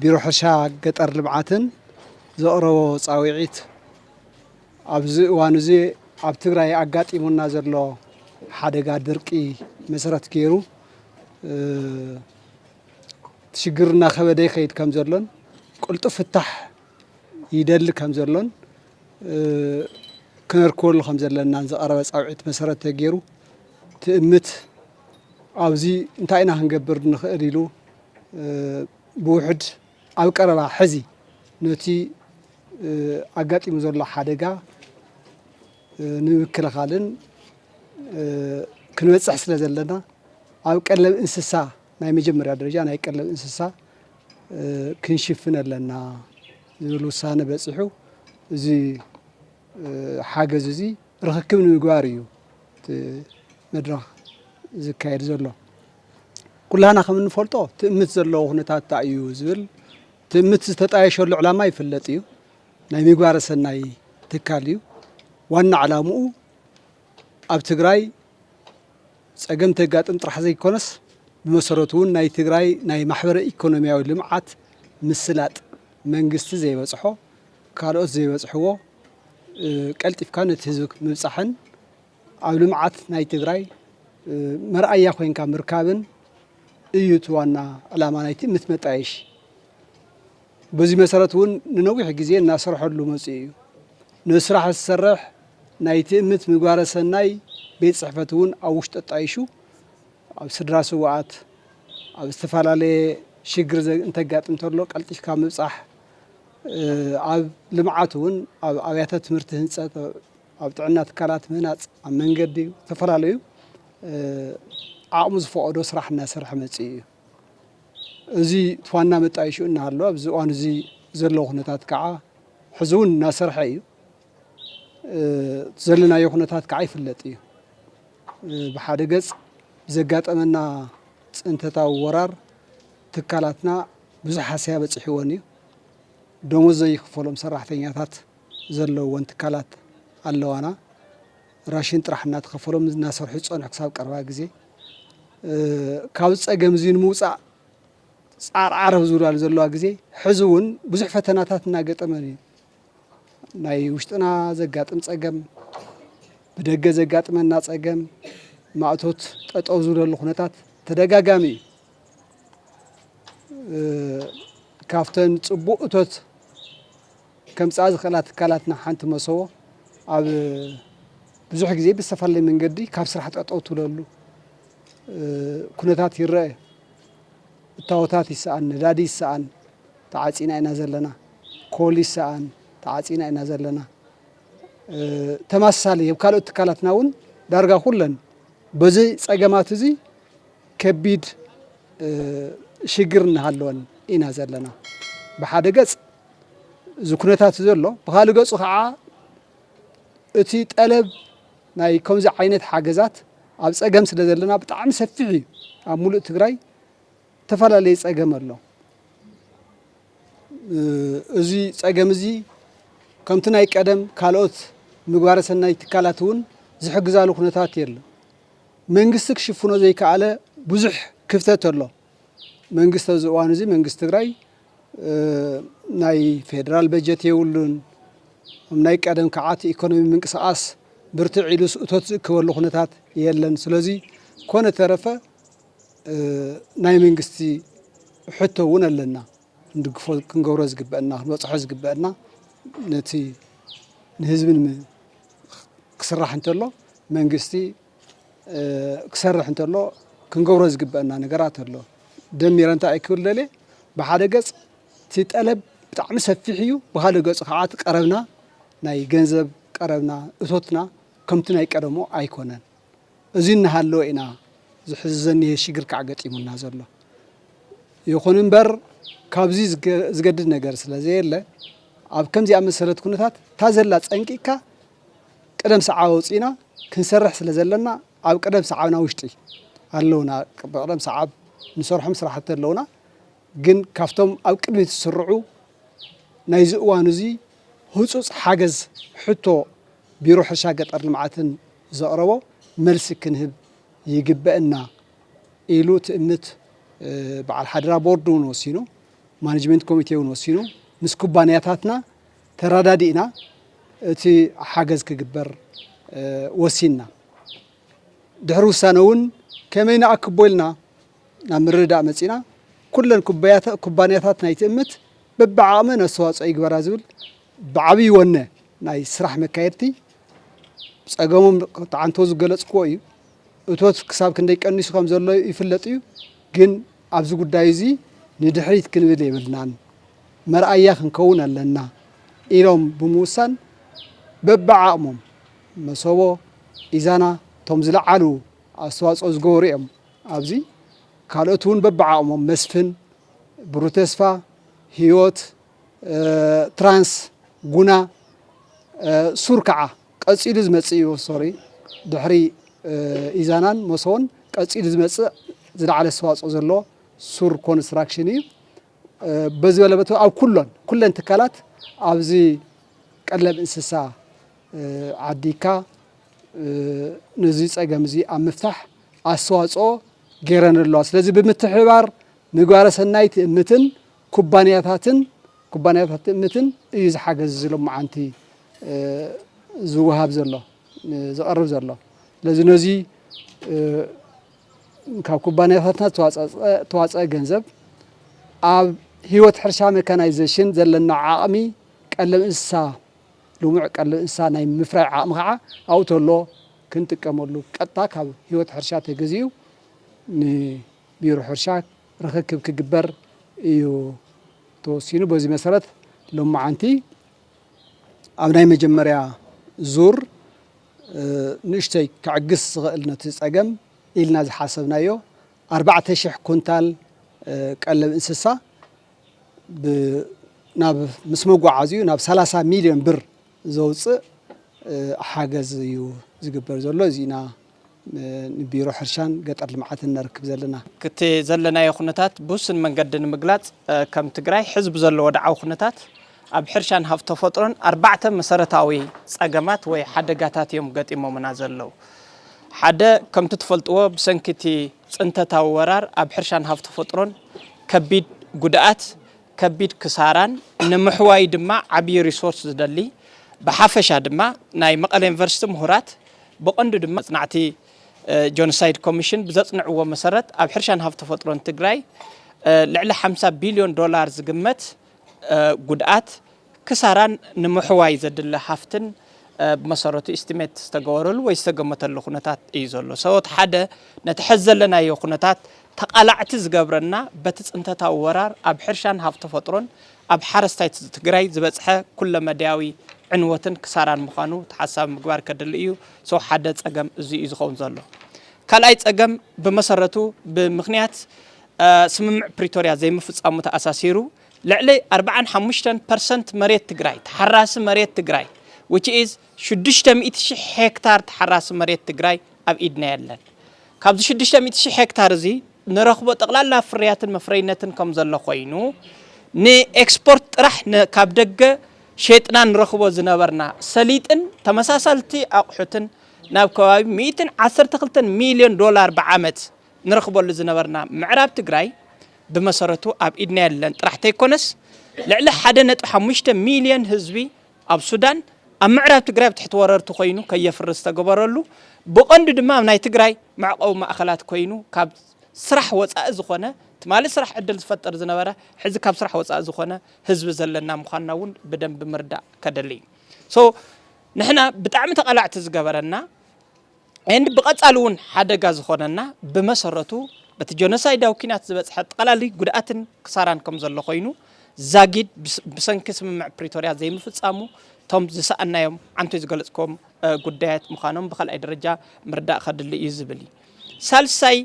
ቢሮ ሕርሻ ገጠር ልምዓትን ዘቕረቦ ፃውዒት ኣብዚ እዋን እዚ ኣብ ትግራይ ኣጋጢሙና ዘሎ ሓደጋ ድርቂ መሰረት ገይሩ እቲ ሽግር እናኸበደ ይኸይድ ከም ዘሎን ቅልጡፍ ፍታሕ ይደሊ ከም ዘሎን ክነርክበሉ ከም ዘለናን ዝቐረበ ፃውዒት መሰረት ተገይሩ ትእምት ኣብዚ እንታይ ኢና ክንገብር ንኽእል ኢሉ ብውሕድ ኣብ ቀረባ ሕዚ ነቲ ኣጋጢሙ ዘሎ ሓደጋ ንምክልኻልን ክንበፅሕ ስለ ዘለና ኣብ ቀለብ እንስሳ ናይ መጀመርያ ደረጃ ናይ ቀለብ እንስሳ ክንሽፍን ኣለና ዝብል ውሳነ በፂሑ እዚ ሓገዝ እዚ ርኽክብ ንምግባር እዩ እቲ መድረኽ ዝካየድ ዘሎ ኩላህና ከም እንፈልጦ ትእምት ዘለዎ ኩነታት እንታይ እዩ ዝብል ትእምት ዝተጣየሸሉ ዕላማ ይፍለጥ እዩ ናይ ምግባረ ሰናይ ትካል እዩ። ዋና ዕላምኡ ኣብ ትግራይ ፀገም ተጋጥም ጥራሕ ዘይኮነስ ብመሰረቱ እውን ናይ ትግራይ ናይ ማሕበረ ኢኮኖሚያዊ ልምዓት ምስላጥ መንግስቲ ዘይበፅሖ ካልኦት ዘይበፅሕዎ ቀልጢፍካ ነቲ ህዝቢ ምብፃሕን ኣብ ልምዓት ናይ ትግራይ መርኣያ ኮንካ ምርካብን እዩ እቲ ዋና ዕላማ ናይቲ ምትመጣየሽ በዚ መሰረት እውን ንነዊሕ ግዜ እናሰርሐሉ መፂኡ እዩ። ነዚ ስራሕ ዝሰርሕ ናይ ትእምት ምግባረ ሰናይ ቤት ፅሕፈት እውን ኣብ ውሽጢ ኣጣይሹ ኣብ ስድራ ስውኣት ኣብ ዝተፈላለየ ሽግር እንተጋጥም እንተሎ ቀልጢፍካ ምብፃሕ ኣብ ልምዓት እውን ኣብ ኣብያተ ትምህርቲ ህንፀት ኣብ ጥዕና ትካላት ምህናፅ ኣብ መንገዲ ዝተፈላለዩ ዓቕሙ ዝፈቐዶ ስራሕ እናሰርሐ መፂኡ እዩ። እዚ እቲ ዋና መጣየሽኡ እናሃለወ ኣብዚ እዋን እዚ ዘሎ ኩነታት ከዓ ሕዚ እውን እናሰርሐ እዩ። እቲ ዘለናዮ ኩነታት ከዓ ይፍለጥ እዩ። ብሓደ ገፅ ብዘጋጠመና ፅንተታዊ ወራር ትካላትና ብዙሕ ሃስያ በፂሕወን እዩ። ደሞዝ ዘይኽፈሎም ሰራሕተኛታት ዘለውወን ትካላት ኣለዋና። ራሽን ጥራሕ እናተኸፈሎም እናሰርሑ ዝፀንሑ ክሳብ ቀረባ ግዜ ካብ ፀገም እዙይ ንምውፃእ ፃዕሪ ዓረብ ዝብላሉ ዘለዋ ግዜ ሕዚ እውን ብዙሕ ፈተናታት እናገጠመን እዩ ናይ ውሽጥና ዘጋጥም ፀገም ብደገ ዘጋጥመና ፀገም ማእቶት ጠጠው ዝብለሉ ኩነታት ተደጋጋሚ እዩ ካብተን ፅቡቅ እቶት ከምጽኣ ዝኽእላ ትካላትና ሓንቲ መሰቦ ኣብ ብዙሕ ግዜ ብዝተፈላለየ መንገዲ ካብ ስራሕ ጠጠው ትብለሉ ኩነታት ይረአ እዩ። እታወታት ይሰኣን፣ ነዳዲ ይሰኣን ተዓፂና ኢና ዘለና፣ ኮል ይሰኣን ተዓፂና ኢና ዘለና። ተመሳሳሊ ኣብ ካልኦት ትካላትና እውን ዳርጋ ኩለን በዚ ፀገማት እዚ ከቢድ ሽግር እናሃለወን ኢና ዘለና ብሓደ ገፅ እዚ ኩነታት ዘሎ ብካልእ ገፁ ከዓ እቲ ጠለብ ናይ ከምዚ ዓይነት ሓገዛት ኣብ ፀገም ስለ ዘለና ብጣዕሚ ሰፊሕ እዩ። ኣብ ሙሉእ ትግራይ ዝተፈላለየ ፀገም ኣሎ። እዚ ፀገም እዚ ከምቲ ናይ ቀደም ካልኦት ምግባረ ሰናይ ትካላት እውን ዝሕግዛሉ ኩነታት የለን። መንግስቲ ክሽፍኖ ዘይከኣለ ብዙሕ ክፍተት ኣሎ። መንግስቲ ኣብዚ እዋን እዚ መንግስቲ ትግራይ ናይ ፌደራል በጀት የብሉን። ናይ ቀደም ክዓት ኢኮኖሚ ምንቅስቃስ ብርትዕ ኢሉስ እቶት ዝእክበሉ ኩነታት የለን። ስለዚ ኮነ ተረፈ ናይ መንግስቲ ሕቶ እውን ኣለና ክንድግፎ ክንገብሮ ዝግበአና ክንበፅሖ ዝግበአና ነቲ ንህዝቢ ክስራሕ እንተሎ መንግስቲ ክሰርሕ እንተሎ ክንገብሮ ዝግበአና ነገራት ኣሎ ደሚረ እንታይ ክብል ደልየ ብሓደ ገፅ እቲ ጠለብ ብጣዕሚ ሰፊሕ እዩ ብካልእ ገፁ ከዓ እቲ ቀረብና ናይ ገንዘብ ቀረብና እቶትና ከምቲ ናይ ቀደሙ ኣይኮነን እዚ እናሃለወ ኢና እዚ ሕዚ ዘኒሀ ሽግር ከዓ ገጢሙና ዘሎ ይኹን እምበር ካብዚ ዝገድድ ነገር ስለ ዘየለ ኣብ ከምዚኣ መሰለት ኩነታት እታ ዘላ ፀንቂቅካ ቅደም ሰዓብ ኣውጺእና ክንሰርሕ ስለ ዘለና ኣብ ቅደም ሰዓብና ውሽጢ ኣለውና ብቅደም ሰዓብ ንሰርሖም ስራሕቲ ኣለውና ግን ካብቶም ኣብ ቅድሚት ዝስርዑ ናይዚ እዋን እዚ ህፁፅ ሓገዝ ሕቶ ቢሮ ሕርሻ ገጠር ልምዓትን ዘቕረቦ መልሲ ክንህብ ይግበእና ኢሉ ትእምት በዓል ሓደራ ቦርድ እውን ወሲኑ ማኔጅመንት ኮሚቴ እውን ወሲኑ ምስ ኩባንያታትና ተረዳዲእና እቲ ሓገዝ ክግበር ወሲንና። ድሕሪ ውሳነ እውን ከመይ ንኣክቦ ኢልና ናብ ምርድዳእ መፂእና። ኩለን ኩባንያታት ናይ ትእምት በብዓቕመን ኣስተዋፅኦ ይግበራ ዝብል ብዓብዪ ወነ ናይ ስራሕ መካየድቲ ፀገሞም ተዓንቶ ዝገለፅክዎ እዩ። እቶት ክሳብ ክንደይ ቀኒሱ ከም ዘሎ ይፍለጥ እዩ። ግን ኣብዚ ጉዳይ እዚ ንድሕሪት ክንብል የብልናን። መርኣያ ክንከውን ኣለና ኢሎም ብምውሳን በብዓቕሞም መሰቦ፣ ኢዛና እቶም ዝለዓሉ ኣስተዋፅኦ ዝገበሩ እዮም ኣብዚ ካልኦት እውን በብዓቕሞም መስፍን፣ ብሩህ ተስፋ፣ ህይወት፣ ትራንስ፣ ጉና፣ ሱር ከዓ ቀፂሉ ዝመፅእ እዩ ሶሪ ድሕሪ ኢዛናን መሰቦን ቀፂሉ ዝመፅእ ዝለዓለ ኣስተዋፅኦ ዘለዎ ሱር ኮንስትራክሽን እዩ በዚ በለ በቲ ኣብ ኩሎን ኩለን ትካላት ኣብዚ ቀለብ እንስሳ ዓዲግካ ነዚ ፀገም እዚ ኣብ ምፍታሕ ኣስተዋፅኦ ገይረን ኣለዋ። ስለዚ ብምትሕብባር ምግባረ ሰናይ ትእምትን ኩባንያታትን ኩባንያታት ትእምትን እዩ ዝሓገዝ እዚ ሎማዓንቲ ዝወሃብ ዘሎ ዝቐርብ ዘሎ ስለዚ ነዚ ካብ ኩባንያታትና ዝተዋፀኣ ገንዘብ ኣብ ህይወት ሕርሻ መካናይዜሽን ዘለና ዓቕሚ ቀለብ እንስሳ ልሙዕ ቀለብ እንስሳ ናይ ምፍራይ ዓቕሚ ከዓ ኣብኡ ተሎ ክንጥቀመሉ ቀጥታ ካብ ህይወት ሕርሻ ተገዚኡ ንቢሮ ሕርሻ ርኽክብ ክግበር እዩ ተወሲኑ። በዚ መሰረት ሎማዓንቲ ኣብ ናይ መጀመርያ ዙር ንእሽተይ ከዕግስ ዝኸእል ነቲ ጸገም ኢልና ዝሓሰብናዮ ኣርባዕተ ሽሕ ኩንታል ቀለብ እንስሳ ናብ ምስ መጓዓዚኡ ናብ ሰላሳ ሚልዮን ብር ዘውጽእ ሓገዝ እዩ ዝግበር ዘሎ እዚ ኢና ንቢሮ ሕርሻን ገጠር ልምዓትን ነርክብ ዘለና። ክቲ ዘለናዮ ኩነታት ብውስን መንገዲ ንምግላጽ ከም ትግራይ ሕዚ ብዘሎ ወድዓዊ ኩነታት ኣብ ሕርሻን ሃፍቲ ተፈጥሮን ኣርባዕተ መሰረታዊ ጸገማት ወይ ሓደጋታት እዮም ገጢሞምና ዘለዉ። ሓደ፣ ከምቲ ትፈልጥዎ ብሰንኪ እቲ ጽንተታዊ ወራር ኣብ ሕርሻን ሃፍቲ ተፈጥሮን ከቢድ ጉድኣት፣ ከቢድ ክሳራን ንምሕዋዩ ድማ ዓብዪ ሪሶርስ ዝደሊ ብሓፈሻ ድማ ናይ መቐለ ዩኒቨርሲቲ ምሁራት ብቐንዱ ድማ መጽናዕቲ ጆኖሳይድ ኮሚሽን ብዘጽንዕዎ መሰረት ኣብ ሕርሻን ሃፍቲ ተፈጥሮን ትግራይ ልዕሊ ሓምሳ ቢልዮን ዶላር ዝግመት ጉድኣት፣ ክሳራን ንምሕዋይ ዘድሊ ሃፍትን ብመሰረቱ ኢስቲሜት ዝተገበረሉ ወይ ዝተገመተሉ ኩነታት እዩ ዘሎ። ሰወት ሓደ ነቲ ሐዚ ዘለናዮ ኩነታት ተቓላዕቲ ዝገብረና በቲ ፅንተታዊ ወራር ኣብ ሕርሻን ሃፍቲ ተፈጥሮን ኣብ ሓረስታይ ትግራይ ዝበፅሐ ኩለመዳያዊ ዕንወትን ክሳራን ምዃኑ ተሓሳቢ ምግባር ከድሊ እዩ። ሰው ሓደ ፀገም እዙይ እዩ ዝኸውን ዘሎ። ካልኣይ ፀገም ብመሰረቱ ብምኽንያት ስምምዕ ፕሪቶርያ ዘይምፍፃሙ ተኣሳሲሩ ልዕሊ ኣርብዓን ሓሙሽተን ፐርሰንት መሬት ትግራይ፣ ተሓራሲ መሬት ትግራይ፣ which is ሽዱሽተ ሚእቲ ሺሕ ሄክታር ተሓራሲ መሬት ትግራይ ኣብ ኢድና የለን። ካብዚ ሽዱሽተ ሚእቲ ሺሕ ሄክታር እዚ ንረኽቦ ጠቕላላ ፍርያትን መፍረይነትን ከም ዘሎ ኮይኑ ንኤክስፖርት ጥራሕ ን- ካብ ደገ ሼጥና ንረኽቦ ዝነበርና ሰሊጥን ተመሳሳልቲ ኣቑሑትን ናብ ከባቢ ሚእትን ዓሰርተ ክልተን ሚልዮን ዶላር ብዓመት ንረኽበሉ ዝነበርና ምዕራብ ትግራይ ብመሰረቱ ኣብ ኢድና የለን ጥራሕ ተይኮነስ ልዕሊ ሓደ ነጥቢ ሓሙሽተ ሚልዮን ህዝቢ ኣብ ሱዳን ኣብ ምዕራብ ትግራይ ኣብ ትሕቲ ወረርቲ ኮይኑ ከየፍርስ ዝተገበረሉ ብቐንዱ ድማ ኣብ ናይ ትግራይ መዕቐዊ ማእኸላት ኮይኑ ካብ ስራሕ ወፃኢ ዝኾነ ትማሊ ስራሕ ዕድል ዝፈጥር ዝነበረ ሕዚ ካብ ስራሕ ወፃኢ ዝኾነ ህዝቢ ዘለና ምዃንና እውን ብደንብ ምርዳእ ከደሊ እዩ ንሕና ብጣዕሚ ተቓላዕቲ ዝገበረና and ብቐጻሊ እውን ሓደጋ ዝኾነና ብመሰረቱ በቲ ጆኖሳይዳዊ ኲናት ዝበጽሐ ጠቕላሊ ጉድኣትን ክሳራን ከም ዘሎ ኮይኑ ዛጊድ ብሰንኪ ስምምዕ ፕሪቶርያ ዘይምፍጻሙ እቶም ዝሰኣናዮም ዓንቶይ ዝገለጽክዎም ጉዳያት ምዃኖም ብካልኣይ ደረጃ ምርዳእ ከድሊ እዩ ዝብል እዩ። ሳልሳይ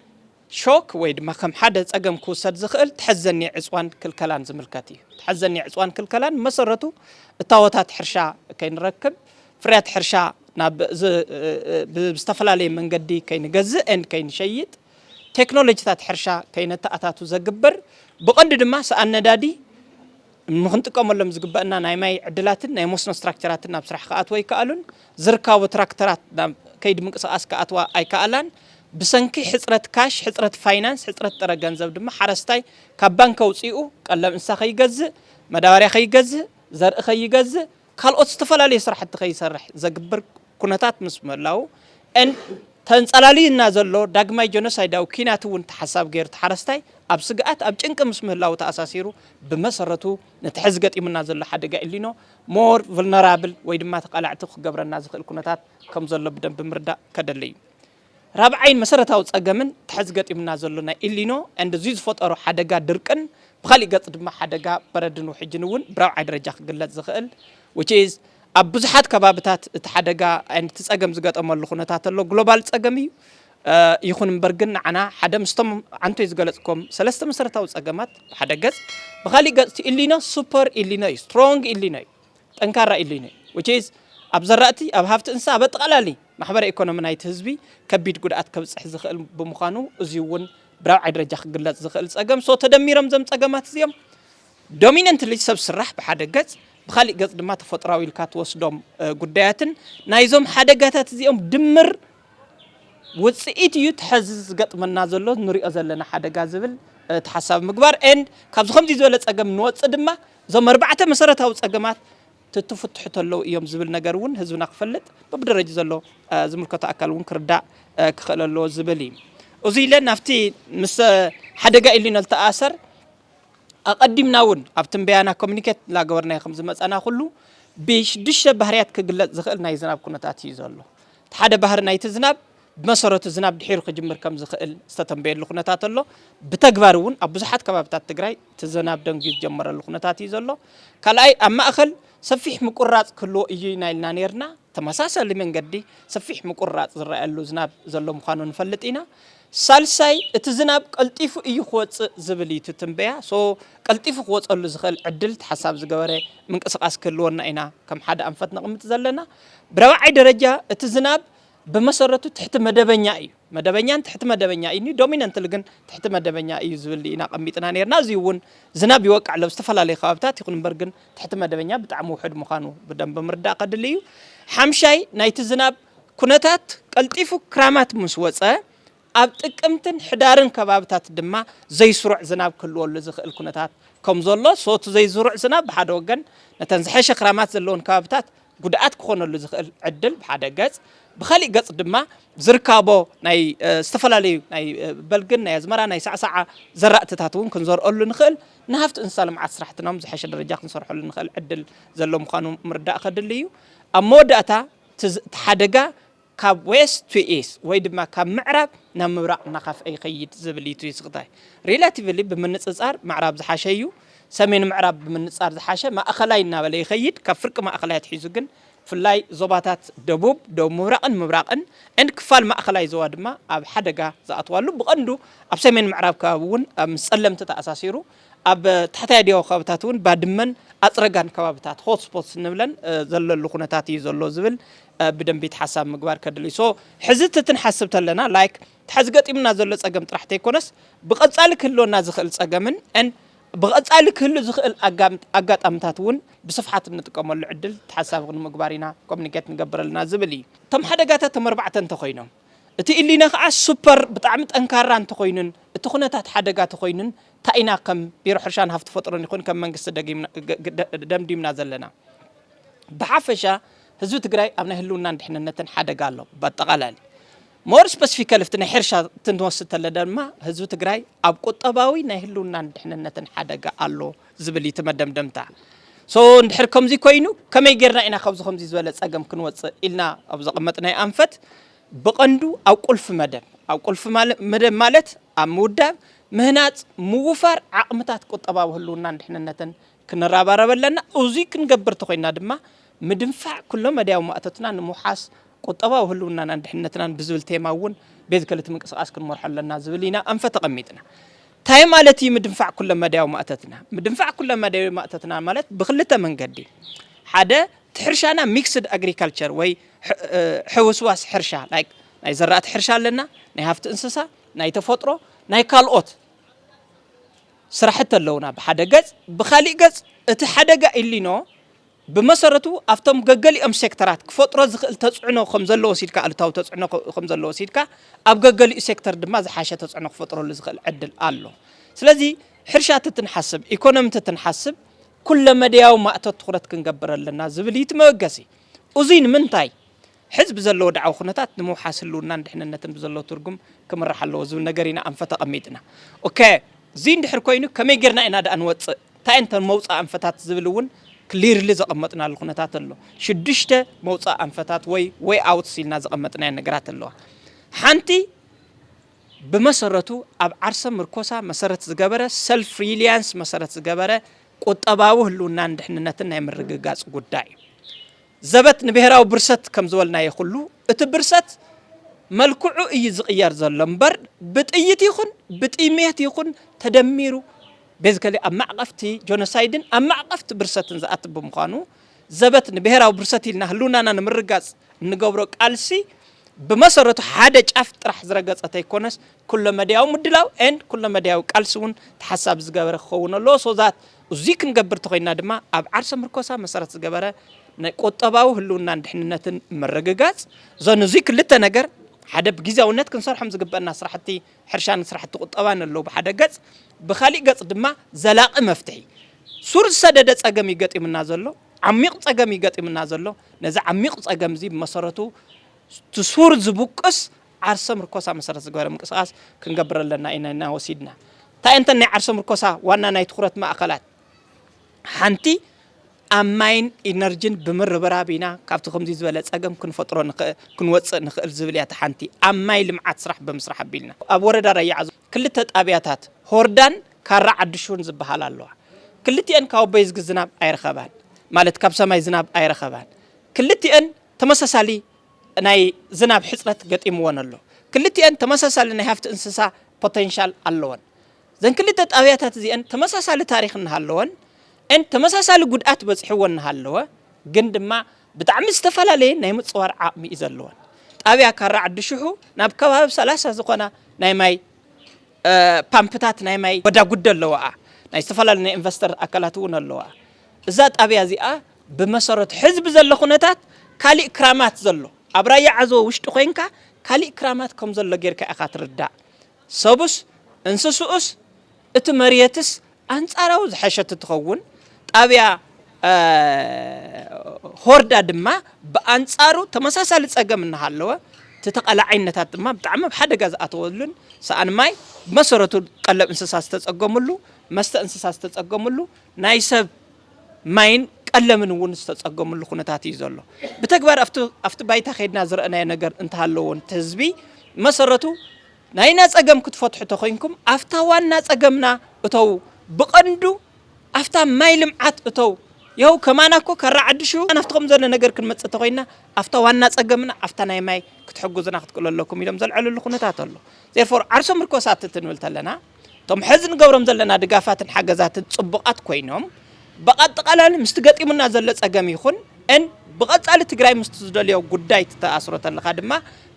ሾክ ወይ ድማ ከም ሓደ ጸገም ክውሰድ ዝኽእል ተሐዘኒ ዕጽዋን ክልከላን ዝምልከት እዩ። ተሐዘኒ ዕጽዋን ክልከላን ብመሰረቱ እታወታት ሕርሻ ከይንረክብ፣ ፍርያት ሕርሻ ናብ ብዝተፈላለየ መንገዲ ከይንገዝእ and ከይንሸይጥ፣ ቴክኖሎጂታት ሕርሻ ከይነተኣታቱ ዘግብር፣ ብቐንዱ ድማ ሰኣን ነዳዲ ንክንጥቀመሎም ዝግበእና ናይ ማይ ዕድላትን ናይ መስኖ ስትራክቸራትን ናብ ስራሕ ክኣትዉ ኣይከኣሉን። ዝርካቡ ትራክተራት ናብ ከይዲ ምንቅስቓስ ክኣትዋ ኣይከኣላን። ብሰንኪ ሕፅረት ካሽ፣ ሕፅረት ፋይናንስ፣ ሕፅረት ጥረ ገንዘብ ድማ ሓረስታይ ካብ ባንኪ ኣውፂኡ ቀለብ እንስሳ ከይገዝእ፣ መዳበርያ ከይገዝእ፣ ዘርኢ ከይገዝእ፣ ካልኦት ዝተፈላለዩ ስራሕቲ ከይሰርሕ ዘግብር ኩነታት ምስ ምህላዉ ን ተንፀላልዩና ዘሎ ዳግማይ ጀኖሳይዳዊ ኲናት እውን ተሓሳቢ ገይሩ እቲ ሓረስታይ ኣብ ስግኣት ኣብ ጭንቂ ምስ ምህላዉ ተኣሳሲሩ ብመሰረቱ ነቲ ሕዚ ገጢሙና ዘሎ ሓደጋ ኤልኒኖ more vulnerable ወይ ድማ ተቓላዕቲ ክገብረና ዝኽእል ኩነታት ከም ዘሎ ብደንቢ ምርዳእ ከደሊ እዩ። ራብዓይን መሰረታዊ ጸገምን እቲ ሕዚ ገጢሙና ዘሎ ናይ ኢልኒኖ and እዚ ዝፈጠሮ ሓደጋ ድርቅን ብኻሊእ ገጽ ድማ ሓደጋ በረድን ውሕጅን እውን ብራብዓይ ደረጃ ክግለጽ ዝኽእል which is ኣብ ብዙሓት ከባብታት እቲ ሓደጋ and እቲ ጸገም ዝገጠመሉ ኩነታት ኣሎ ግሎባል ጸገም እዩ ይኹን እምበር ግን ንዓና ሓደ ምስቶም ዓንቶይ ዝገለጽኮም ሰለስተ መሰረታዊ ጸገማት ብሓደ ገጽ ብኻሊእ ገጽ እቲ ኢልኒኖ ሱፐር ኢልኒኖ እዩ ስትሮንግ ኢልኒኖ እዩ ጠንካራ ኢሉ ዩ which is ኣብ ዘራእቲ፣ ኣብ ሃፍቲ እንስሳ፣ ኣብ ኣጠቓላሊ ማሕበረ ኢኮኖሚ ናይቲ ህዝቢ ከቢድ ጉድኣት ከብፅሕ ዝኽእል ብምዃኑ እዙይ ውን ብራብዓይ ደረጃ ክግለፅ ዝኽእል ፀገም so ተደሚሮም እዞም ፀገማት እዚኦም dominantly ሰብ ስራሕ ብሓደ ገፅ ብኻሊእ ገፅ ድማ ተፈጥሯዊ ኢልካ ትወስዶም ጉዳያትን ናይዞም ሓደጋታት እዚኦም ድምር ውፅኢት እዩ እቲ ሐዚ ዝገጥመና ዘሎ ንሪኦ ዘለና ሓደጋ ዝብል ተሓሳቢ ምግባር ኤንድ ካብዚ ከምዚ ዝበለ ፀገም ንወፅእ ድማ እዞም ኣርባዕተ መሰረታዊ ፀገማት ትትፍትሑ ተለው እዮም ዝብል ነገር እውን ህዝብና ክፈልጥ በብደረጅ ዘሎ ዝምልከቶ ኣካል እውን ክርዳእ ክኽእል ኣለዎ ዝብል እዩ እዚ ኢለ ናብቲ ምስ ሓደጋ ኢሊኖ ዝተኣሰር ኣቐዲምና እውን ኣብ ትንበያና ኮሚኒኬት እናገበርናዮ ከም ዝመፀና ኩሉ ብሽዱሽተ ባህርያት ክግለፅ ዝኽእል ናይ ዝናብ ኩነታት እዩ ዘሎ እቲ ሓደ ባህሪ ናይቲ ዝናብ ብመሰረቱ ዝናብ ድሒሩ ክጅምር ከም ዝኽእል ዝተተንበየሉ ኩነታት ኣሎ። ብተግባር እውን ኣብ ብዙሓት ከባቢታት ትግራይ እቲ ዝናብ ደንጉዩ ዝጀመረሉ ኩነታት እዩ ዘሎ። ካልኣይ ኣብ ማእኸል ሰፊሕ ምቁርራፅ ክህልዎ እዩ ኢና ኢልና ነይርና። ተመሳሳሊ መንገዲ ሰፊሕ ምቁርራፅ ዝረኣየሉ ዝናብ ዘሎ ምዃኑ ንፈልጥ ኢና። ሳልሳይ እቲ ዝናብ ቀልጢፉ እዩ ክወፅእ ዝብል እዩ እቲ ትንበያ። ሶ ቀልጢፉ ክወፀሉ ዝኽእል ዕድል ተሓሳቢ ዝገበረ ምንቅስቓስ ክህልወና ኢና ከም ሓደ ኣንፈት ነቕምጥ ዘለና። ብራብዓይ ደረጃ እቲ ዝናብ ብመሰረቱ ትሕቲ መደበኛ እዩ። መደበኛን ትሕቲ መደበኛ እዩ ኒ ዶሚነንትሊ ግን ትሕቲ መደበኛ እዩ ዝብል ኢና ቀሚጥና ነርና። እዚ እውን ዝናብ ይወቅዕ ኣሎ ኣብ ዝተፈላለዩ ከባብታት ይኹን እምበር ግን ትሕቲ መደበኛ ብጣዕሚ ውሑድ ምዃኑ ብደንቢ ምርዳእ ከድሊ እዩ። ሓምሻይ ናይቲ ዝናብ ኩነታት ቀልጢፉ ክራማት ምስ ወፀ ኣብ ጥቅምትን ሕዳርን ከባብታት ድማ ዘይስሩዕ ዝናብ ክህልወሉ ዝኽእል ኩነታት ከም ዘሎ ሶቲ ዘይዝሩዕ ዝናብ ብሓደ ወገን ነተን ዝሐሸ ክራማት ዘለወን ከባብታት ጉድኣት ክኾነሉ ዝኽእል ዕድል ብሓደ ገፅ፣ ብኻሊእ ገፅ ድማ ዝርካቦ ናይ ዝተፈላለዩ ናይ በልግን ናይ ኣዝመራ ናይ ሳዕሳዓ ዘራእትታት እውን ክንዘርኦሉ ንኽእል ንሃፍቲ እንስሳ ልምዓት ስራሕትና እውን ዝሐሸ ደረጃ ክንሰርሖሉ ንኽእል ዕድል ዘሎ ምዃኑ ምርዳእ ከድሊ እዩ። ኣብ መወዳእታ እቲ ሓደጋ ካብ ዌስት ቱ ኢስት ወይ ድማ ካብ ምዕራብ ናብ ምብራቕ እናኸፍኤ ይኸይድ ዝብል እዩ እቲ ስኽታይ። ሪላቲቭሊ ብምንጽጻር ምዕራብ ዝሓሸ እዩ፣ ሰሜን ምዕራብ ብምንጻር ዝሓሸ ማእኸላይ እናበለ ይኸይድ፣ ካብ ፍርቂ ማእኸላይ ኣትሒዙ ግን ብፍላይ ዞባታት ደቡብ፣ ደቡብ ምብራቕን ምብራቕን and ክፋል ማእኸላይ ዞባ ድማ ኣብ ሓደጋ ዝኣትዋሉ ብቐንዱ ኣብ ሰሜን ምዕራብ ከባቢ እውን ምስ ጸለምቲ ተኣሳሲሩ ኣብ ታሕታይ ዲያዊ ከባብታት እውን ባድመን ኣፅረጋን ከባብታት ሆት ስፖትስ እንብለን ዘለሉ ኩነታት እዩ ዘሎ ዝብል ብደንቢ ተሓሳብ ምግባር ከድልይ ሶ ሕዚ እቲ ትንሓስብ ተለና ላይክ ተሓዚ ገጢሙና ዘሎ ፀገም ጥራሕ ተይኮነስ ብቐፃሊ ክህልወና ዝኽእል ፀገምን ን ብቐፃሊ ክህሉ ዝኽእል ኣጋጣምታት እውን ብስፍሓት እንጥቀመሉ ዕድል ተሓሳቢ ክንምግባር ኢና ኮሚኒኬት ንገብር ኣለና ዝብል እዩ። እቶም ሓደጋታት እቶም ኣርባዕተ እንተኾይኖም። እቲ ኢሊነ ከኣ ሱፐር ብጣዕሚ ጠንካራ እንተኾይኑን እቲ ኩነታት ሓደጋ ተኾይኑን ታይ ኢና ከም ቢሮ ሕርሻን ሃፍቲ ፈጥሮን ይኹን ከም መንግስቲ ደምዲምና ዘለና ብሓፈሻ ህዝቢ ትግራይ ኣብ ናይ ህልውናን ድሕንነትን ሓደጋ ኣሎ ብኣጠቓላሊ ሞር ስፐሲፊካሊ እቲ ናይ ሕርሻ እንትንወስድ ተለ ድማ ህዝቢ ትግራይ ኣብ ቁጠባዊ ናይ ህልውናን ድሕንነትን ሓደጋ ኣሎ ዝብል እዩ እቲ መደምደምታ። so እንድሕር ከምዚ ኮይኑ ከመይ ጌርና ኢና ካብዚ ከምዚ ዝበለ ጸገም ክንወጽእ ኢልና ኣብ ዘቐመጥናዮ ኣንፈት ብቐንዱ ኣብ ቁልፊ መደብ ኣብ ቁልፊ መደብ ማለት ኣብ ምውዳብ ምህናጽ ምውፋር ዓቕምታት ቁጠባዊ ህልውናን ድሕንነትን ክንረባረብ ኣለና። እዙይ ክንገብር እንተኾይንና ድማ ምድንፋዕ ኩሎ መዳያዊ ማእቶትና ንምውሓስ ቁጠባዊ ህልውናናን ድሕንነትናን ብዝብል ቴማ እውን ቤት ክልቲ ምንቅስቓስ ክንመርሖ ኣለና ዝብል ኢና ኣንፈት ተቐሚጥና። ታይ ማለት እዩ ምድንፋዕ ኩለመዳያዊ ማእቶትና? ምድንፋዕ ኩለመዳያዊ ማእቶትና ማለት ብክልተ መንገዲ ሓደ እቲ ሕርሻና ሚክስድ ኣግሪካልቸር ወይ ሕውስዋስ ሕርሻ like ናይ ዘራእቲ ሕርሻ ኣለና፣ ናይ ሃፍቲ እንስሳ፣ ናይ ተፈጥሮ፣ ናይ ካልኦት ስራሕቲ ኣለውና ብሓደ ገፅ፣ ብኻሊእ ገፅ እቲ ሓደጋ ኢሊኖ፣ ብመሰረቱ ኣብቶም ገገሊኦም ሴክተራት ክፈጥሮ ዝኽእል ተፅዕኖ ከምዘሎ ወሲድካ ኣሉታዊ ተፅዕኖ ከምዘሎ ወሲድካ ኣብ ገገሊኡ ሴክተር ድማ ዝሓሸ ተፅዕኖ ክፈጥረሉ ዝኽእል ዕድል ኣሎ። ስለዚ ሕርሻ ትትንሓስብ፣ ኢኮኖሚ ትትንሓስብ ኩለመደያዊ ማእቶት ትኹረት ክንገብር ኣለና ዝብል እዩ እቲ መበገሲ። እዙይ ንምንታይ? ሕዚ ብዘሎ ወድዓዊ ኩነታት ንምውሓስ ህልውናን ድሕንነትን ብዘለዎ ትርጉም ክምራሕ ኣለዎ ዝብል ነገር ኢና ኣንፈት ኣቐሚጥና። ኦከ እዙይ እንድሕር ኮይኑ ከመይ ገይርና ኢና ድኣ ንወፅእ? እንታይ እየን እተን መውፅኢ ኣንፈታት ዝብል እውን ክሊርሊ ዘቐመጥናሉ ኩነታት ኣሎ። ሽዱሽተ መውፅኢ ኣንፈታት ወይ ዌይ ኣውትስ ኢልና ዘቐመጥናየን ነገራት ኣለዋ። ሓንቲ ብመሰረቱ ኣብ ዓርሰ ምርኮሳ መሰረት ዝገበረ፣ ሰልፍ ሪሊያንስ መሰረት ዝገበረ ቁጠባዊ ህልውናን ድሕንነትን ናይ ምርግጋፅ ጉዳይ እዩ። ዘበት ንብሄራዊ ብርሰት ከም ዝበልናዮ ኩሉ እቲ ብርሰት መልክዑ እዩ ዝቕየር ዘሎ እምበር ብጥይት ይኹን ብጥይሜት ይኹን ተደሚሩ ቤዝከሊ ኣብ ማዕቐፍቲ ጆኖሳይድን ኣብ ማዕቐፍቲ ብርሰትን ዝኣት ብምዃኑ ዘበት ንብሄራዊ ብርሰት ኢልና ህልውናና ንምርጋፅ እንገብሮ ቃልሲ ብመሰረቱ ሓደ ጫፍ ጥራሕ ዝረገፀ ተይኮነስ ኩለመድያዊ ምድላው ኤንድ ኩለመድያዊ ቃልሲ እውን ተሓሳቢ ዝገበረ ክኸውን ኣለዎ ሶ ዛት እዙይ ክንገብር ተኾይንና ድማ ኣብ ዓርሰ ምርኮሳ መሰረት ዝገበረ ናይ ቁጠባዊ ህልውናን ድሕንነትን ምርግጋፅ ዞን እዙይ ክልተ ነገር ሓደ ብግዜያውነት ክንሰርሖም ዝግበእና ስራሕቲ ሕርሻን ስራሕቲ ቁጠባን ኣለዉ ብሓደ ገፅ፣ ብኻሊእ ገፅ ድማ ዘላቒ መፍትሒ ሱር ዝሰደደ ፀገም እዩ ገጢሙና ዘሎ፣ ዓሚቕ ፀገም እዩ ገጢሙና ዘሎ። ነዚ ዓሚቕ ፀገም እዙይ ብመሰረቱ እቲ ሱር ዝቡቅስ ዓርሰ ምርኮሳ መሰረት ዝገበረ ምንቅስቓስ ክንገብር ኣለና ኢነና ወሲድና። እንታይ እንተን ናይ ዓርሰ ምርኮሳ ዋና ናይ ትኹረት ማእኸላት ሓንቲ ኣብ ማይን ኢነርጂን ብምርብራብ ኢና ካብቲ ከምዚ ዝበለ ፀገም ክንፈጥሮ ክንወፅእ ንኽእል ዝብል እያ እቲ ሓንቲ ኣብ ማይ ልምዓት ስራሕ ብምስራሕ ኣቢልና። ኣብ ወረዳ ራያ ዓዘቦ ክልተ ጣብያታት ሆርዳን ካራ ዓዲሹን ዝበሃላ ኣለዋ። ክልቲኤን ካብ ኣቦይ ዝግ ዝናብ ኣይረኸባን ማለት ካብ ሰማይ ዝናብ ኣይረኸባን። ክልቲኤን። ተመሳሳሊ ናይ ዝናብ ሕፅረት ገጢምወን ኣሎ። ክልቲኤን ተመሳሳሊ ናይ ሃፍቲ እንስሳ ፖቴንሻል ኣለወን። እዘን ክልተ ጣብያታት እዚኤን ተመሳሳሊ ታሪኽ እናሃለወን and ተመሳሳሊ ጉድኣት በፂሕወን እናሃለወ ግን ድማ ብጣዕሚ ዝተፈላለየ ናይ ምፅዋር ዓቕሚ እዩ ዘለወን። ጣብያ ካራ ዓዲ ሽሑ ናብ ከባቢ ሰላሳ ዝኾና ናይ ማይ ፓምፕታት ናይ ማይ ጎዳጉዲ ኣለዋኣ። ናይ ዝተፈላለዩ ናይ ኢንቨስተር ኣካላት እውን ኣለዋኣ። እዛ ጣብያ እዚኣ ብመሰረቱ ሕዚ ብዘሎ ኩነታት ካሊእ ክራማት ዘሎ ኣብ ራያ ዓዘቦ ውሽጢ ኮይንካ ካሊእ ክራማት ከምዘሎ ጌርካ ኢኻ ትርዳእ ሰቡስ እንስስኡስ እቲ መርየትስ ኣንፃራዊ ዝሐሸት ትኸውን ጣብያ ሆርዳ ድማ ብኣንፃሩ ተመሳሳሊ ፀገም እናሃለወ እቲ ተቓላዓይነታት ድማ ብጣዕሚ ኣብ ሓደጋ ዝኣተወሉን ሰኣን ማይ ብመሰረቱ ቀለብ እንስሳ ዝተፀገምሉ መስተ እንስሳ ዝተፀገምሉ ናይ ሰብ ማይን ቀለምን እውን ዝተፀገምሉ ኩነታት እዩ ዘሎ። ብተግባር ኣብቲ ባይታ ከይድና ዝረእናዮ ነገር እንተሃለዎ እቲ ህዝቢ መሰረቱ ናይና ፀገም ክትፈትሑ ተኮይንኩም ኣብታ ዋና ፀገምና እተዉ ብቀንዱ ኣብታ ማይ ልምዓት እተው ይኸው ከማና እኮ ካራ ዓድሹ ናፍቲ ከም ዘሎ ነገር ክንመፅእ ተኮይና ኣብታ ዋና ፀገምና ኣብታ ናይ ማይ ክትሕግዙና ክትክእሉ ኣለኩም ኢሎም ዘልዐልሉ ኩነታት ኣሎ ዜርፎር ዓርሶ ምርኮሳት ትንብል ተለና እቶም ሐዚ ንገብሮም ዘለና ድጋፋትን ሓገዛትን ፅቡቓት ኮይኖም ብኣጠቓላሊ ምስቲ ገጢሙና ዘሎ ፀገም ይኹን ን ብቐፃሊ ትግራይ ምስቲ ዝደልዮ ጉዳይ ትተኣስሮ ተለኻ ድማ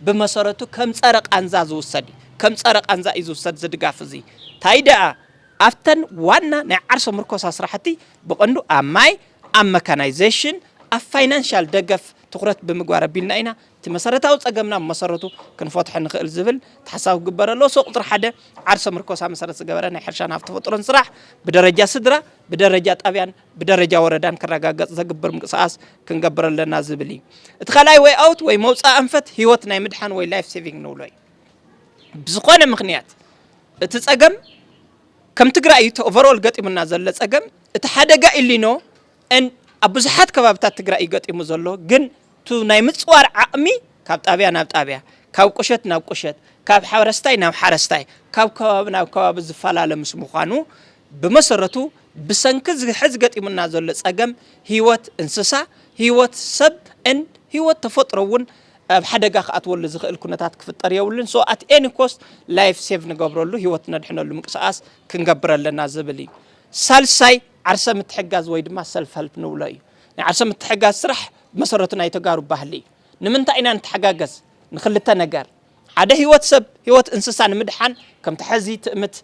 ብመሰረቱ ከም ፀረ ቃንዛ ዝውሰድ እዩ። ከም ፀረ ቃንዛ እዩ ዝውሰድ እዚ ድጋፍ እዚ ታይ ደኣ ኣብተን ዋና ናይ ዓርሰ ምርኮሳ ስራሕቲ ብቐንዱ ኣብ ማይ፣ ኣብ መካናይዜሽን፣ ኣብ ፋይናንሻል ደገፍ ትኹረት ብምግባር ኣቢልና ኢና እቲ መሰረታዊ ፀገምና ብመሰረቱ ክንፈትሖ ንኽእል ዝብል ታሕሳቢ ክግበር ኣለዎ። ሰው ቁፅሪ ሓደ ዓርሰ ምርኮሳ መሰረት ዝገበረ ናይ ሕርሻን ሃፍቲ ተፈጥሮን ስራሕ ብደረጃ ስድራ፣ ብደረጃ ጣብያን ብደረጃ ወረዳን ክረጋገፅ ዘግብር ምንቅስቓስ ክንገብር ኣለና ዝብል እዩ። እቲ ካልኣይ ወይ ኣውት ወይ መውፃኢ ኣንፈት ህይወት ናይ ምድሓን ወይ ላይፍ ሴቪንግ ንብሎ እዩ። ብዝኾነ ምኽንያት እቲ ፀገም ከም ትግራይ እዩ እቲ ኦቨርኦል ገጢሙና ዘሎ ፀገም እቲ ሓደጋ ኢሊኖ and ኣብ ብዙሓት ከባብታት ትግራይ እዩ ገጢሙ ዘሎ ግን ቱ ናይ ምፅዋር ዓቕሚ ካብ ጣብያ ናብ ጣብያ ካብ ቁሸት ናብ ቁሸት ካብ ሓረስታይ ናብ ሓረስታይ ካብ ከባቢ ናብ ከባቢ ዝፈላለ ምስ ምዃኑ ብመሰረቱ ብሰንኪ እዚ ሕዚ ገጢሙና ዘሎ ፀገም ህይወት እንስሳ ህይወት ሰብ and ህይወት ተፈጥሮ እውን ኣብ ሓደጋ ክኣትወሉ ዝኽእል ኩነታት ክፍጠር የብሉን ሶ ኣት ኤኒ ኮስት ላይፍ ሴቭ ንገብረሉ ህይወት ነድሕነሉ ምንቅስቓስ ክንገብር ኣለና ዝብል እዩ ሳልሳይ ዓርሰ ምትሕጋዝ ወይ ድማ ሰልፍ ሀልፕ ንብሎ እዩ። ናይ ዓርሰ ምትሕጋዝ ስራሕ ብመሰረቱ ናይ ተጋሩ ባህሊ እዩ። ንምንታይ ኢና ንተሓጋገዝ? ንክልተ ነገር፣ ሓደ ህይወት ሰብ ህይወት እንስሳ ንምድሓን ከምቲ ሐዚ ትእምት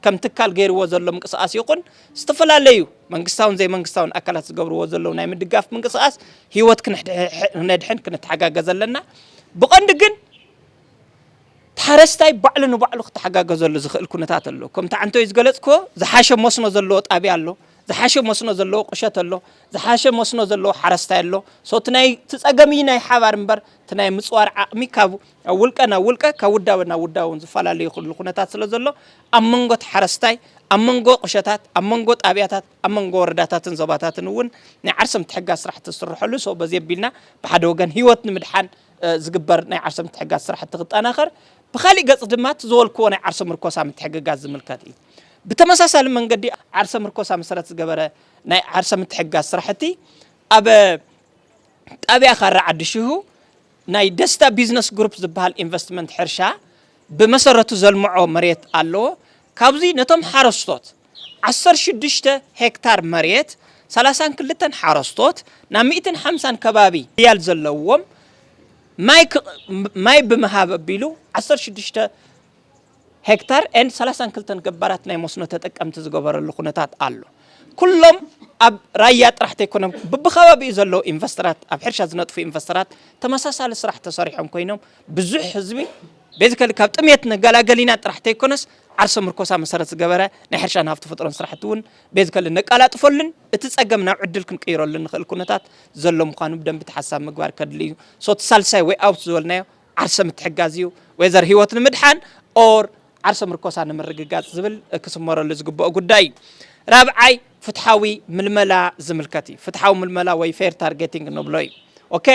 ከም ትካል ገይርዎ ዘሎ ምንቅስቓስ ይኹን ዝተፈላለዩ መንግስታውን ዘይመንግስታውን ኣካላት ዝገብርዎ ዘለዉ ናይ ምድጋፍ ምንቅስቓስ ህይወት ክነድሕን ክንተሓጋገዝ ኣለና። ብቐንዱ ግን እቲ ሓረስታይ ባዕሉ ንባዕሉ ክተሓጋገዘሉ ዝኽእል ኩነታት ኣሎ። ከምቲ ዓንተይ ዝገለጽክዎ ዝሓሸ መስኖ ዘለዎ ጣብያ ኣሎ፣ ዝሓሸ መስኖ ዘለዎ ቁሸት ኣሎ፣ ዝሓሸ መስኖ ዘለዎ ሓረስታይ ኣሎ። ሶ እቲ ናይ እቲ ጸገም እዩ ናይ ሓባር እምበር እቲ ናይ ምጽዋር ዓቕሚ ካብ ኣብ ውልቀ ናብ ውልቀ ካብ ውዳበ ናብ ውዳበ እውን ዝፈላለ ይኽእሉ ኩነታት ስለ ዘሎ ኣብ መንጎ እቲ ሓረስታይ ኣብ መንጎ ቁሸታት ኣብ መንጎ ጣብያታት ኣብ መንጎ ወረዳታትን ዞባታትን እውን ናይ ዓርሰ ምትሕጋዝ ስራሕቲ ዝስርሐሉ ሶ በዚ ኣቢልና ብሓደ ወገን ህይወት ንምድሓን ዝግበር ናይ ዓርሰ ምትሕግጋዝ ስራሕቲ ክጠናኸር፣ ብኻሊእ ገፅ ድማ እቲ ዝበልክዎ ናይ ዓርሰ ምርኮሳ ምትሕግጋዝ ዝምልከት እዩ። ብተመሳሳሊ መንገዲ ዓርሰ ምርኮሳ መሰረት ዝገበረ ናይ ዓርሰ ምትሕግጋዝ ስራሕቲ ኣብ ጣብያ ካራ ዓዲ ሽሁ ናይ ደስታ ቢዝነስ ግሩፕ ዝበሃል ኢንቨስትመንት ሕርሻ ብመሰረቱ ዘልምዖ መሬት ኣለዎ። ካብዚ ነቶም ሓረስቶት ዓሰርተ ሽዱሽተ ሄክታር መሬት ሰላሳን ክልተን ሓረስቶት ናብ ሚእትን ሓምሳን ከባቢ ሪያል ዘለዎም ማይ ብምሃብ ኣቢሉ ዓሰርተ ሽዱሽተ ሄክታር ን ሰላሳን ክልተን ገባራት ናይ መስኖ ተጠቀምቲ ዝገበረሉ ኩነታት ኣሎ። ኩሎም ኣብ ራያ ጥራሕ ተይኮኖም ብብከባቢኡ ዘለዉ ኢንቨስተራት ኣብ ሕርሻ ዝነጥፉ ኢንቨስተራት ተመሳሳሊ ስራሕ ተሰሪሖም ኮይኖም ብዙሕ ህዝቢ ቤዚካሊ ካብ ጥምየት ንገላገል ኢና ጥራሕ ተይኮነስ ዓርሰ ምርኮሳ መሰረት ዝገበረ ናይ ሕርሻን ሃፍቲ ፍጥሮን ስራሕቲ እውን ቤዚካሊ ነቃላጥፈሉን እቲ ፀገም ናብ ዕድል ክንቅይረሉን ንኽእል ኩነታት ዘሎ ምዃኑ ብደንቢ ተሓሳቢ ምግባር ከድሊ እዩ። ሶ እቲ ሳልሳይ ዌይ ኣውት ዝበልናዮ ዓርሰ ምትሕጋዝ እዩ። ዌዘር ህይወት ንምድሓን ኦር ዓርሰ ምርኮሳ ንምርግጋፅ ዝብል ክስመረሉ ዝግበኦ ጉዳይ እዩ። ራብዓይ ፍትሓዊ ምልመላ ዝምልከት እዩ። ፍትሓዊ ምልመላ ወይ ፌር ታርጌቲንግ ንብሎ እዩ። ኦኬ።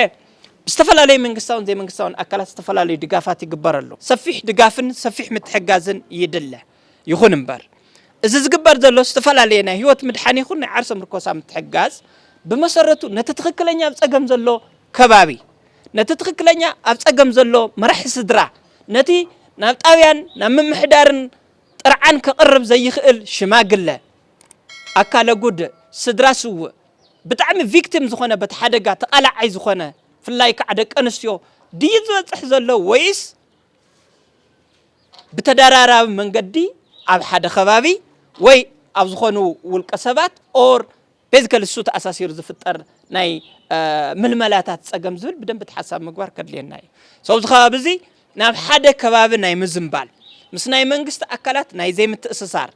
ብዝተፈላለዩ መንግስታውን ዘይመንግስታውን ኣካላት ዝተፈላለዩ ድጋፋት ይግበረሉ። ሰፊሕ ድጋፍን ሰፊሕ ምትሕጋዝን ይድለ። ይኹን እምበር እዚ ዝግበር ዘሎ ዝተፈላለየ ናይ ህይወት ምድሓን ይኹን ናይ ዓርሰ ምርኮሳ ምትሕጋዝ ብመሰረቱ ነቲ ትኽክለኛ ኣብ ፀገም ዘሎ ከባቢ ነቲ ትኽክለኛ ኣብ ፀገም ዘሎ መራሒ ስድራ ነቲ ናብ ጣብያን ናብ ምምሕዳርን ጥርዓን ከቕርብ ዘይኽእል ሽማግለ ኣካለ ጉድእ ስድራ ስውእ ብጣዕሚ ቪክቲም ዝኾነ በቲ ሓደጋ ተቓላዓይ ዝኾነ ፍላይ ከዓ ደቂ ኣንስትዮ ድዩ ዝበፅሕ ዘሎ ወይስ ብተደራራቢ መንገዲ ኣብ ሓደ ከባቢ ወይ ኣብ ዝኾኑ ውልቀ ሰባት ኦር ቤዚካሊ እሱ ተኣሳሲሩ ዝፍጠር ናይ ምልመላታት ፀገም ዝብል ብደንቢ ተሓሳብ ምግባር ከድልየና እዩ ሰብዚ ከባቢ እዚ ናብ ሓደ ከባቢ ናይ ምዝንባል ምስ ናይ መንግስቲ ኣካላት ናይ ዘይምትእስሳር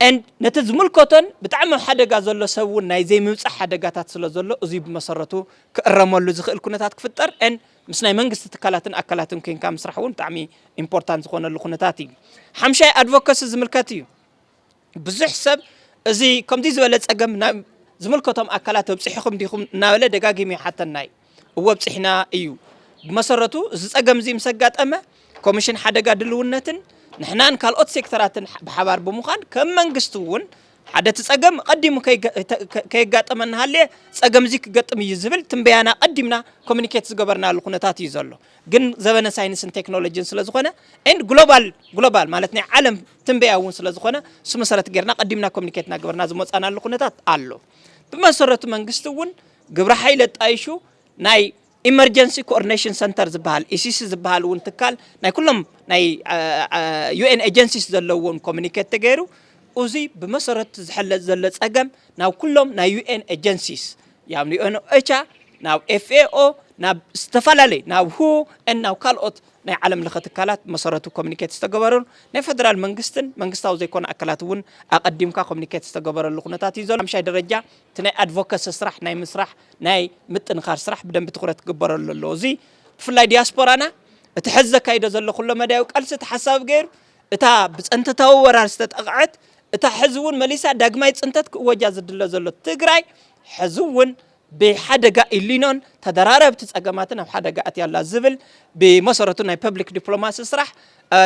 and ነቲ ዝምልከቶን ብጣዕሚ ኣብ ሓደጋ ዘሎ ሰብ እውን ናይ ዘይምብጻሕ ሓደጋታት ስለ ዘሎ እዙይ ብመሰረቱ ክእረመሉ ዝኽእል ኩነታት ክፍጠር and ምስ ናይ መንግስቲ ትካላትን ኣካላትን ኮንካ ምስራሕ እውን ብጣዕሚ ኢምፖርታንት ዝኾነሉ ኩነታት እዩ። ሓምሻይ ኣድቮከሲ ዝምልከት እዩ። ብዙሕ ሰብ እዚ ከምዚ ዝበለ ጸገም ናብ ዝምልከቶም ኣካላት ኣብጺሕኹም ዲኹም እናበለ ደጋጊሙ ይሓተና እዩ። እወ ኣብፂሕና እዩ። ብመሰረቱ እዚ ፀገም እዚ ምስ ኣጋጠመ ኮሚሽን ሓደጋ ድልውነትን ንሕናን ካልኦት ሴክተራትን ብሓባር ብምዃን ከም መንግስቲ እውን ሓደ እቲ ፀገም ቀዲሙ ከየጋጠመ እናሃለየ ፀገም እዚ ክገጥም እዩ ዝብል ትንበያና ቀዲምና ኮሚኒኬት ዝገበርናሉ ኩነታት እዩ ዘሎ ግን ዘበነ ሳይንስን ቴክኖሎጂን ስለ ዝኾነ ን ግሎባል ግሎባል ማለት ናይ ዓለም ትንበያ እውን ስለ ዝኾነ እሱ መሰረት ጌርና ቀዲምና ኮሚኒኬት እናገበርና ዝመፃናሉ ኩነታት ኣሎ ብመሰረቱ መንግስቲ እውን ግብረ ሓይሊ ኣጣይሹ ናይ ኢመርጀንሲ ኮኦርዲኔሽን ሰንተር ዝበሃል ኢሲሲ ዝበሃል እውን ትካል ናይ ኩሎም ናይ ዩኤን ኤጀንሲስ ዘለዎም ኮሚኒኬት ተገይሩ እዚ ብመሰረት ዝሕለጥ ዘሎ ፀገም ናብ ኩሎም ናይ ዩኤን ኤጀንሲስ ያብ ዩኤን ኦቻ ናብ ኤፍኤኦ ናብ ዝተፈላለዩ ናብ ሁ ናብ ካልኦት ናይ ዓለም ለኸ ትካላት መሰረቱ ኮሚኒኬት ዝተገበረሉ ናይ ፌደራል መንግስትን መንግስታዊ ዘይኮነ ኣካላት እውን ኣቐዲምካ ኮሚኒኬት ዝተገበረሉ ኩነታት እዩ ዘሎ ሓምሻይ ደረጃ እቲ ናይ ኣድቮከሲ ስራሕ ናይ ምስራሕ ናይ ምጥንኻር ስራሕ ብደንቢ ትኹረት ክግበረሉ ኣለዎ። እዚ ብፍላይ ዲያስፖራና እቲ ሕዚ ዘካይዶ ዘሎ ኩሎ መዳያዊ ቃልሲ ተሓሳቢ ገይሩ እታ ብፀንተታዊ ወራር ዝተጠቕዐት እታ ሕዚ እውን መሊሳ ዳግማይ ፅንተት ክእወጃ ዝድለ ዘሎ ትግራይ ሕዚ እውን ብሓደጋ ኢሊኖን ተደራረብቲ ፀገማትን ኣብ ሓደጋ ኣትያ ኣላ ዝብል ብመሰረቱ ናይ ፐብሊክ ዲፕሎማሲ ስራሕ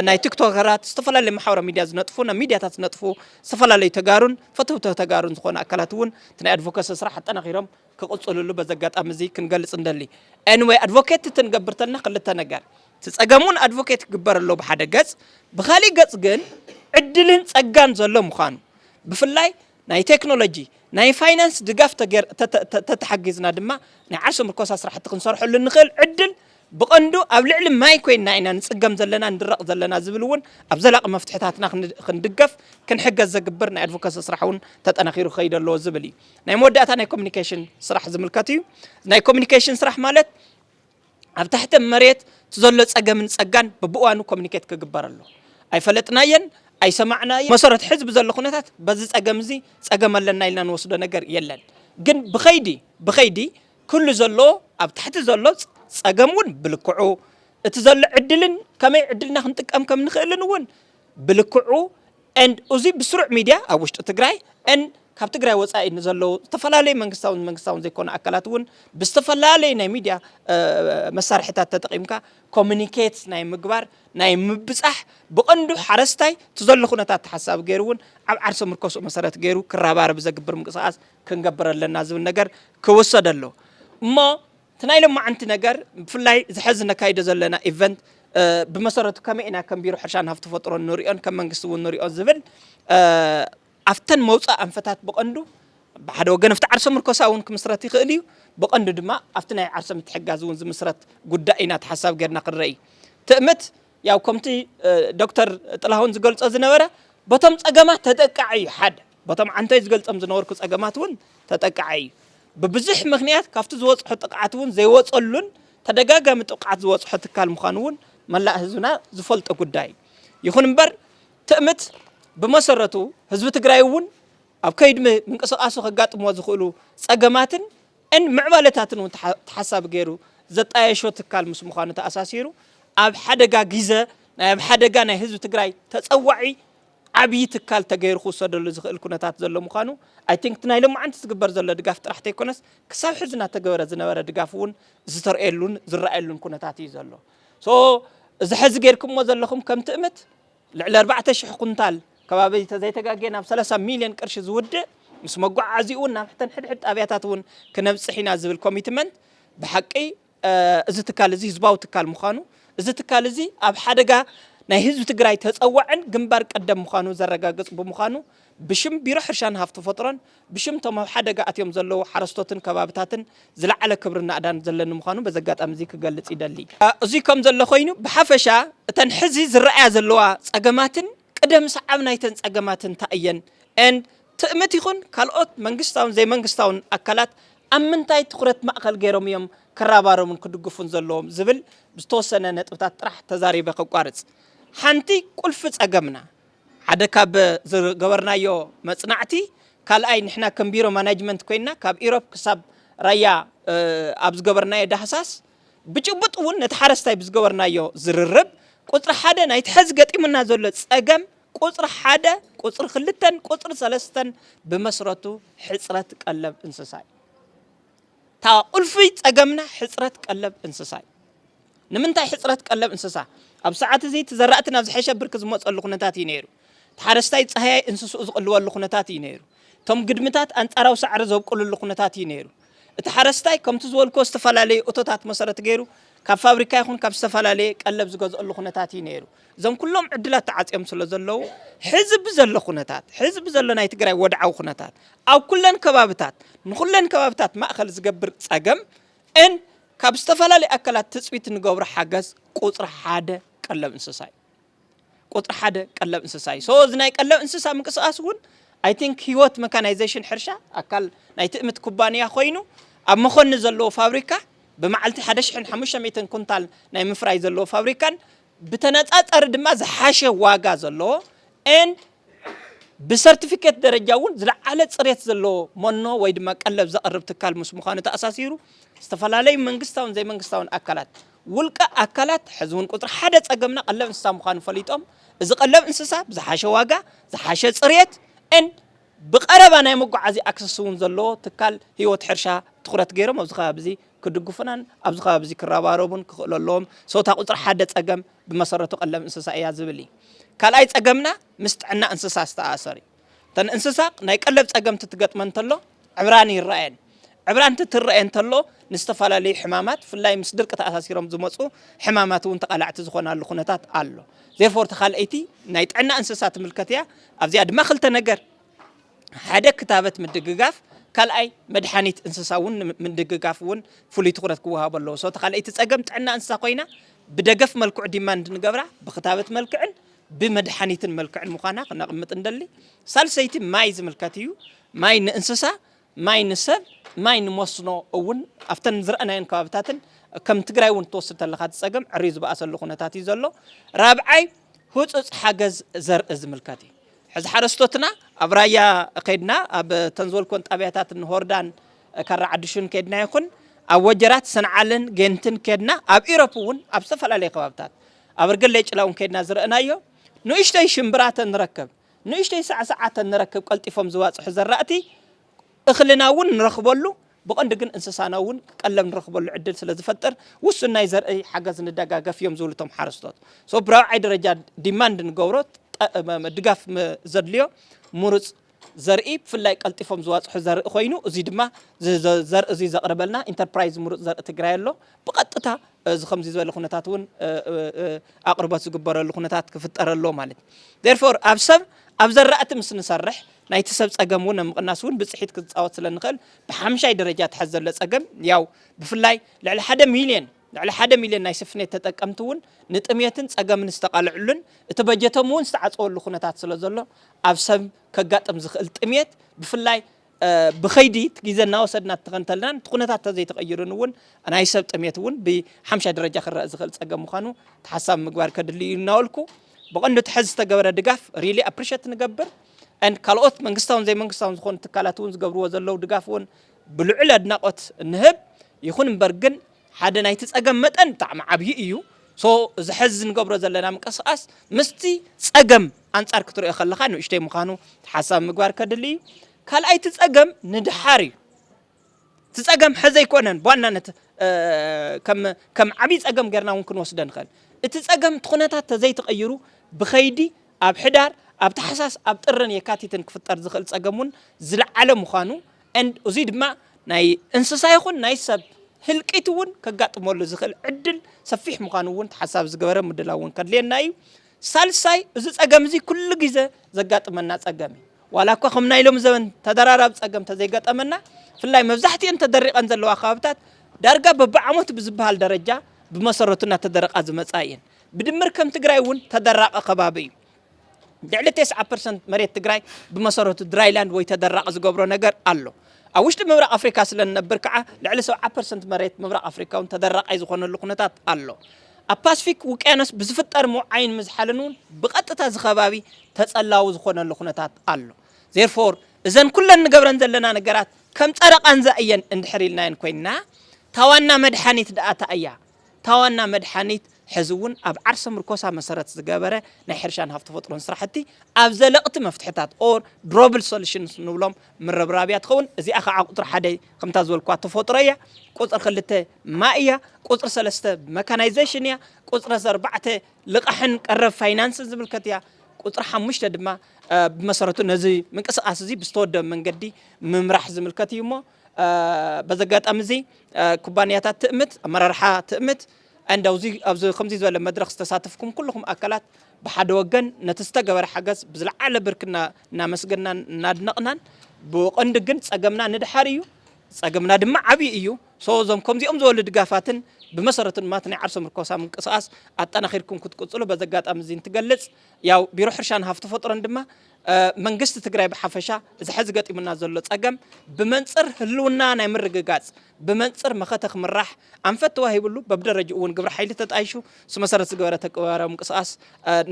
ናይ ቲክቶከራት ዝተፈላለዩ ማሕበራዊ ሚድያ ዝነጥፉ ናብ ሚድያታት ዝነጥፉ ዝተፈላለዩ ተጋሩን ፈተውተ ተጋሩን ዝኾኑ ኣካላት እውን እቲ ናይ ኣድቮኬሲ ስራሕ ኣጠናኺሮም ክቕፅልሉ በዚ ኣጋጣሚ እዚ ክንገልፅ እንደሊ ኤንወይ ኣድቮኬት እቲ ንገብር ተለና ክልተ ነገር እቲ ፀገሙን ኣድቮኬት ክግበር ኣሎ ብሓደ ገፅ ብካሊእ ገፅ ግን ዕድልን ፀጋን ዘሎ ምዃኑ ብፍላይ ናይ ቴክኖሎጂ፣ ናይ ፋይናንስ ድጋፍ ተተሓጊዝና ድማ ናይ ዓርሰ ምርኮሳ ስራሕቲ ክንሰርሐሉ እንኽእል ዕድል ብቐንዱ ኣብ ልዕሊ ማይ ኮይንና ኢና ንፅገም ዘለና ንድረቕ ዘለና ዝብል እውን ኣብ ዘላቒ መፍትሕታትና ክንድገፍ ክንሕገዝ ዘግብር ናይ ኣድቮከሲ ስራሕ እውን ተጠናኺሩ ክኸይድ ኣለዎ ዝብል እዩ። ናይ መወዳእታ ናይ ኮሚኒኬሽን ስራሕ ዝምልከት እዩ። ናይ ኮሚኒኬሽን ስራሕ ማለት ኣብ ታሕተ መሬት ዘሎ ጸገምን ጸጋን በብእዋኑ ኮሚኒኬት ክግበር ኣሎ። ኣይፈለጥናዮን፣ ኣይሰማዕናዮን፣ መሰረቱ ሕዚ ብዘሎ ኩነታት በዚ ጸገም እዚ ጸገም ኣለና ኢልና ንወስዶ ነገር የለን። ግን ብኸይዲ ብኸይዲ ኩሉ ዘሎ ኣብ ታሕቲ ዘሎ ጸገም እውን ብልክዑ እቲ ዘሎ ዕድልን ከመይ ዕድልና ክንጥቀም ከም ንኽእልን እውን ብልክዑ and እዙይ ብስሩዕ ሚድያ ኣብ ውሽጢ ትግራይ and ካብ ትግራይ ወፃኢ ንዘለዉ ዝተፈላለዩ መንግስታውን መንግስታውን ዘይኮኑ ኣካላት እውን ብዝተፈላለዩ ናይ ሚድያ መሳርሒታት ተጠቒምካ ኮሚኒኬት ናይ ምግባር ናይ ምብፃሕ ብቐንዱ ሓረስታይ ትዘሎ ኩነታት ተሓሳቢ ገይሩ እውን ኣብ ዓርሰ ምርኮስኡ መሰረት ገይሩ ክረባረብ ዘግብር ምንቅስቓስ ክንገብር ኣለና ዝብል ነገር ክውሰድ ኣሎ እሞ እቲ ናይ ሎማዓንቲ ነገር ብፍላይ እዚ ሐዚ ነካይዶ ዘለና ኢቨንት ብመሰረቱ ከመይ ኢና ከም ቢሮ ሕርሻን ሃፍቲ ተፈጥሮን ንሪኦን ከም መንግስቲ እውን ንሪኦ ዝብል ኣብተን መውፃእ ኣንፈታት ብቐንዱ ብሓደ ወገን ኣብቲ ዓርሰ ምርኮሳ እውን ክምስረት ይኽእል እዩ ብቐንዱ ድማ ኣብቲ ናይ ዓርሰ ምትሕጋዝ እውን ዝምስረት ጉዳይ ኢና ተሓሳብ ጌርና ክንረኢ ትእምት ያው ከምቲ ዶክተር ጥላሁን ዝገልጾ ዝነበረ በቶም ጸገማት ተጠቃዒ እዩ ሓደ በቶም ዓንተይ ዝገልጾም ዝነበርኩ ጸገማት እውን ተጠቃዒ እዩ ብብዙሕ ምክንያት ካብቲ ዝወጽሖ ጥቕዓት እውን ዘይወጸሉን ተደጋጋሚ ጥቕዓት ዝወጽሖ ትካል ምዃኑ እውን መላእ ህዝብና ዝፈልጦ ጉዳይ እዩ ይኹን እምበር ትእምት ብመሰረቱ ህዝቢ ትግራይ እውን ኣብ ከይዲ ምንቅስቃሱ ከጋጥሞ ዝኽእሉ ጸገማትን ን ምዕባለታትን እውን ተሓሳቢ ገይሩ ዘጣየሾ ትካል ምስ ምዃኑ ተኣሳሲሩ ኣብ ሓደጋ ጊዘ ናይ ኣብ ሓደጋ ናይ ህዝቢ ትግራይ ተፀዋዒ ዓብዪ ትካል ተገይሩ ክውሰደሉ ዝኽእል ኩነታት ዘሎ ምዃኑ ኣይ ቲንክ እቲ ናይ ሎማዓንቲ ዝግበር ዘሎ ድጋፍ ጥራሕ ተይኮነስ ክሳብ ሕዚ እናተገበረ ዝነበረ ድጋፍ እውን ዝተርእየሉን ዝረኣየሉን ኩነታት እዩ ዘሎ። ሶ እዚ ሐዚ ገይርክሞ ዘለኹም ከም ትእምት ልዕሊ ኣርባዕተ ሽሕ ኩንታል ከባቢ ተዘይተጋግየ ናብ ሰላሳ ሚልዮን ቅርሺ ዝውድእ ምስ መጓዓዓዚኡ'ውን ናብ ሕተን ሕድሕድ ጣብያታት'ውን ክነብፅሕ ኢና ዝብል ኮሚትመንት ብሓቂ እዚ ትካል እዚ ህዝባዊ ትካል ምዃኑ እዚ ትካል እዚ ኣብ ሓደጋ ናይ ህዝቢ ትግራይ ተፀዋዕን ግንባር ቀደም ምዃኑ ዘረጋግፅ ብምዃኑ ብሽም ቢሮ ሕርሻን ሃፍቲ ተፈጥሮን ብሽም እቶም ኣብ ሓደጋ ኣትዮም ዘለዉ ሓረስቶትን ከባብታትን ዝለዓለ ክብርን ናእዳን ዘለኒ ምዃኑ በዚ ኣጋጣሚ እዚ ክገልጽ ይደሊ። እዙይ ከም ዘሎ ኮይኑ ብሓፈሻ እተን ሕዚ ዝረኣያ ዘለዋ ጸገማትን ቅደም ሰዓብ ናይተን ጸገማት እንታይ እየን and ትእምት ይኹን ካልኦት መንግስታውን ዘይመንግስታውን ኣካላት ኣብ ምንታይ ትኹረት ማእኸል ገይሮም እዮም ክረባረቡን ክድግፉን ዘለዎም ዝብል ዝተወሰነ ነጥብታት ጥራሕ ተዛሪበ ከቋርጽ። ሓንቲ ቁልፊ ጸገምና ሓደ ካብ ዝገበርናዮ መጽናዕቲ፣ ካልኣይ ንሕና ከም ቢሮ ማናጅመንት ኮይንና ካብ ኢሮብ ክሳብ ራያ ኣብ ዝገበርናዮ ዳህሳስ፣ ብጭቡጥ እውን ነቲ ሓረስታይ ብዝገበርናዮ ዝርርብ፣ ቁጽሪ ሓደ ናይቲ ሐዚ ገጢሙና ዘሎ ጸገም ቁጽሪ ሓደ፣ ቁጽሪ ክልተን ቁጽሪ ሰለስተን ብመስረቱ ሕጽረት ቀለብ እንስሳ እዩ። እታ ቁልፊ ጸገምና ሕጽረት ቀለብ እንስሳ እዩ። ንምንታይ ሕጽረት ቀለብ እንስሳ? ኣብ ሰዓት እዚ እቲ ዘራእቲ ናብ ዝሐሸ ብርኪ ዝመጸሉ ኩነታት እዩ ነይሩ። እቲ ሓረስታይ ጸሃያይ እንስስኡ ዝቅልበሉ ኩነታት እዩ ነይሩ። እቶም ግድምታት ኣንጻራዊ ሳዕሪ ዘብቁልሉ ኩነታት እዩ ነይሩ። እቲ ሓረስታይ ከምቲ ዝበልኩዎ ዝተፈላለዩ እቶታት መሰረት ገይሩ ካብ ፋብሪካ ይኹን ካብ ዝተፈላለየ ቀለብ ዝገዝኦሉ ኩነታት እዩ ነይሩ። እዞም ኩሎም ዕድላት ተዓጽዮም ስለ ዘለዉ ሕዚ ብዘሎ ኩነታት ሕዚ ብዘሎ ናይ ትግራይ ወድዓዊ ኩነታት ኣብ ኩለን ከባብታት ንኹለን ከባብታት ማእኸል ዝገብር ጸገም ን ካብ ዝተፈላለዩ ኣካላት ትፅቢት እንገብሮ ሓገዝ ቁፅሪ ሓደ ቀለብ እንስሳ እዩ። ቁፅሪ ሓደ ቀለብ እንስሳ እዩ። ሶ እዚ ናይ ቀለብ እንስሳ ምንቅስቃስ እውን ኣይ ቲንክ ህይወት መካናይዜሽን ሕርሻ ኣካል ናይ ትእምት ኩባንያ ኮይኑ ኣብ መኾኒ ዘለዎ ፋብሪካ ብመዓልቲ ሓደ ሽሕን ሓሙሽተ ሚእትን ኩንታል ናይ ምፍራይ ዘለዎ ፋብሪካን ብተነፃፀሪ ድማ ዝሓሸ ዋጋ ዘለዎ ን ብሰርቲፊኬት ደረጃ እውን ዝለዓለ ፅሬት ዘለዎ መኖ ወይ ድማ ቀለብ ዘቕርብ ትካል ምስ ምዃኑ ተኣሳሲሩ ዝተፈላለዩ መንግስታውን ዘይመንግስታውን ኣካላት ውልቀ ኣካላት ሕዚ እውን ቁፅሪ ሓደ ፀገምና ቀለብ እንስሳ ምዃኑ ፈሊጦም እዚ ቀለብ እንስሳ ብዝሓሸ ዋጋ ዝሓሸ ፅሬት ን ብቀረባ ናይ መጓዓዚ ኣክሰስ እውን ዘለዎ ትካል ህይወት ሕርሻ ትኹረት ገይሮም ኣብዚ ከባቢ እዚ ክድግፉናን ኣብዚ ከባቢ እዚ ክረባረቡን ክኽእሉ ኣለዎም። So እታ ቁጽሪ ሓደ ጸገም ብመሰረቱ ቀለብ እንስሳ እያ ዝብል እዩ። ካልኣይ ጸገምና ምስ ጥዕና እንስሳ ዝተኣኣሰር እዩ። እተን እንስሳ ናይ ቀለብ ጸገምቲ ትገጥመን እንተሎ ዕብራን ይረኣየን። ዕብራን እቲ ትረኣየን እንተሎ ንዝተፈላለዩ ሕማማት ብፍላይ ምስ ድርቂ ተኣሳሲሮም ዝመጹ ሕማማት እውን ተቓላዕቲ ዝኾናሉ ኩነታት ኣሎ። Therefore እታ ካልኣይቲ ናይ ጥዕና እንስሳ ትምልከት እያ። ኣብዚኣ ድማ ክልተ ነገር ሓደ ክታበት ምድግጋፍ ካልኣይ መድሓኒት እንስሳ እውን ምድግጋፍ እውን ፍሉይ ትኩረት ክወሃቦ ኣለዎ። ሶ እቲ ካልኣይቲ ፀገም ጥዕና እንስሳ ኮይና ብደገፍ መልክዑ ዲማንድ ንገብራ ብክታበት መልክዕን ብመድሓኒትን መልክዕን ምዃና ክነቕምጥ ንደሊ። ሳልሰይቲ ማይ ዝምልከት እዩ። ማይ ንእንስሳ ማይ ንሰብ ማይ ንመስኖ እውን ኣብተን ዝረኣናየን ከባብታትን ከም ትግራይ እውን ትወስድ ተለኻ እቲ ፀገም ዕርዩ ዝበኣሰሉ ኩነታት እዩ ዘሎ። ራብዓይ ህፁፅ ሓገዝ ዘርኢ ዝምልከት እዩ። ሕዚ ሓረስቶትና ኣብ ራያ ከይድና ኣብ ተን ዝበልኮን ጣብያታት ንሆርዳን ካራ ዓዲሹን ከይድና ይኹን ኣብ ወጀራት ሰንዓልን ጌንትን ከድና ኣብ ኢሮፕ እውን ኣብ ዝተፈላለዩ ከባብታት ኣበርገሌ ጭላውን ከይድና ዝረእናዮ ንእሽተይ ሽምብራ ተንረከብ ንእሽተይ ሳዕስዓተን ንረክብ፣ ቀልጢፎም ዝባጽሑ ዘራእቲ እኽልና እውን ንረኽበሉ፣ ብቐንዱ ግን እንስሳና እውን ቀለብ ንረኽበሉ ዕድል ስለ ዝፈጥር ውሱን ናይ ዘርኢ ሓገዝ ንደጋገፍ እዮም ዝብሉ እቶም ሓረስቶት። so ብራብዓይ ደረጃ demand ንገብሮ ድጋፍ ዘድልዮ ምሩጽ ዘርኢ ብፍላይ ቀልጢፎም ዝባጽሑ ዘርኢ ኮይኑ እዙይ ድማ እዚ ዘርኢ እዙይ ዘቕርበልና ኢንተርፕራይዝ ምሩጽ ዘርኢ ትግራይ ኣሎ ብቐጥታ እዚ ከምዚ ዝበለ ኩነታት እውን ኣቕርቦት ዝግበረሉ ኩነታት ክፍጠር ኣለዎ ማለት እዩ ዴርፎር ኣብ ሰብ ኣብ ዘራእቲ ምስ ንሰርሕ ናይቲ ሰብ ጸገም እውን ኣብ ምቕናስ እውን ብጽሒት ክጻወት ስለ ንኽእል ብሓምሻይ ደረጃ እቲ ሐዚ ዘሎ ጸገም ያው ብፍላይ ልዕሊ ሓደ ሚልዮን ልዕሊ ሓደ ሚልዮን ናይ ስፍኔት ተጠቀምቲ እውን ንጥሜትን ጸገምን ዝተቓልዕሉን እቲ በጀቶም እውን ዝተዓጸወሉ ኩነታት ስለ ዘሎ ኣብ ሰብ ከጋጥም ዝኽእል ጥሜት ብፍላይ ብኸይዲ እቲ ግዜ እናወሰድና እንተኸንተልናን እቲ ኩነታት ተዘይተቐይሩን እውን ናይ ሰብ ጥሜት እውን ብሓምሻይ ደረጃ ክረእ ዝኽእል ፀገም ምዃኑ ተሓሳቢ ምግባር ከድሊ እዩ እናበልኩ ብቐንዱ እቲ ሕዚ ዝተገበረ ድጋፍ ሪሊ ኣፕሪሸት ንገብር ን ካልኦት መንግስታውን ዘይመንግስታውን ዝኾኑ ትካላት እውን ዝገብርዎ ዘለዉ ድጋፍ እውን ብልዑል ኣድናቖት ንህብ ይኹን እምበር ግን ሓደ ናይቲ ጸገም መጠን ብጣዕሚ ዓብዪ እዩ so እዚ ሐዚ ንገብሮ ዘለና ምንቅስቃስ ምስቲ ጸገም ኣንጻር ክትሪኦ ከለኻ ንእሽተይ ምዃኑ ተሓሳቢ ምግባር ከድሊ እዩ ካልኣይ እቲ ጸገም ንድሓር እዩ እቲ ጸገም ሐዚ ኣይኮነን ብዋናነት ከም ዓብዪ ጸገም ጌርና እውን ክንወስደ ንኽእል እቲ ጸገም እቲ ኩነታት ተዘይተቐይሩ ብኸይዲ ኣብ ሕዳር ኣብ ታሕሳስ ኣብ ጥርን የካቲትን ክፍጠር ዝኽእል ጸገም እውን ዝለዓለ ምዃኑ and እዙይ ድማ ናይ እንስሳ ይኹን ናይ ሰብ ህልቂት እውን ከጋጥመሉ ዝኽእል ዕድል ሰፊሕ ምዃኑ እውን ተሓሳቢ ዝገበረ ምድላው እውን ከድልየና እዩ። ሳልሳይ እዚ ፀገም እዚ ኩሉ ግዘ ዘጋጥመና ፀገም እዩ። ዋላ እኳ ከም ናይ ሎም ዘበን ተደራራቢ ፀገም ተዘይገጠመና ብፍላይ መብዛሕትኤን ተደሪቐን ዘለዋ ከባብታት ዳርጋ በብዓመቱ ብዝበሃል ደረጃ ብመሰረቱ እናተደረቓ ዝመፃ እየን። ብድምር ከም ትግራይ እውን ተደራቒ ከባቢ እዩ። ልዕሊ ቴስዓ ፐርሰንት መሬት ትግራይ ብመሰረቱ ድራይላንድ ወይ ተደራቒ ዝገብሮ ነገር ኣሎ። ኣብ ውሽጢ ምብራቕ ኣፍሪካ ስለ ንነብር ከዓ ልዕሊ ሰብዓ ፐርሰንት መሬት ምብራቕ ኣፍሪካ እውን ተደራቓይ ዝኾነሉ ኩነታት ኣሎ። ኣብ ፓስፊክ ውቅያኖስ ብዝፍጠር ምውዓይን ምዝሓልን እውን ብቐጥታ እዚ ከባቢ ተፀላዊ ዝኾነሉ ኩነታት ኣሎ። Therefore እዘን ኩለን ንገብረን ዘለና ነገራት ከም ፀረ ቃንዛ እየን እንድሕር ኢልናየን ኮይንና እታ ዋና መድሓኒት ድኣ ታይ እያ? እታ ዋና መድሓኒት ሕዚ እውን ኣብ ዓርሰ ምርኮሳ መሰረት ዝገበረ ናይ ሕርሻን ሃፍቲ ተፈጥሮን ስራሕቲ ኣብ ዘለቕቲ መፍትሕታት or durable solutions ንብሎም ምርብራብ እያ ትኸውን። እዚኣ ከዓ ቁፅሪ ሓደ ከምታ ዝበልኩዋ ተፈጥሮ እያ። ቁፅሪ ክልተ ማይ እያ። ቁፅሪ ሰለስተ መካናይዜሽን እያ። ቁፅሪ ኣርባዕተ ልቓሕን ቀረብ ፋይናንስን ዝምልከት እያ። ቁፅሪ ሓሙሽተ ድማ ብመሰረቱ ነዚ ምንቅስቓስ እዚ ብዝተወደበ መንገዲ ምምራሕ ዝምልከት እዩ እሞ በዚ ኣጋጣሚ እዚ ኩባንያታት ትእምት፣ ኣመራርሓ ትእምት ዕንድ ኣብዚ ከምዚ ዝበለ መድረኽ ዝተሳተፍኩም ኩልኹም ኣካላት ብሓደ ወገን ነቲ ዝተገበረ ሓገዝ ብዝለዓለ ብርክና እናመስገናን እናድነቕናን ብቐንዱ ግን ጸገምና ንድሓር እዩ ጸገምና ድማ ዓብዪ እዩ ሶ እዞም ከምዚኦም ዝበሉ ድጋፋትን ብመሰረቱ ድማ እቲ ናይ ዓርሰ ምርኮሳ ምንቅስቓስ ኣጠናኺርኩም ክትቅፅሉ በዚ ኣጋጣሚ እዚ እንትገልፅ ያው ቢሮ ሕርሻን ሃፍቲ ተፈጥሮን ድማ መንግስቲ ትግራይ ብሓፈሻ እዚ ሐዚ ገጢሙና ዘሎ ፀገም ብመንፅር ህልውና ናይ ምርግጋፅ ብመንፅር መኸተ ክምራሕ ኣንፈት ተዋሂብሉ በብደረጅኡ እውን ግብረ ሓይሊ ተጣይሹ ስመሰረት ዝገበረ ተግባራዊ ምንቅስቓስ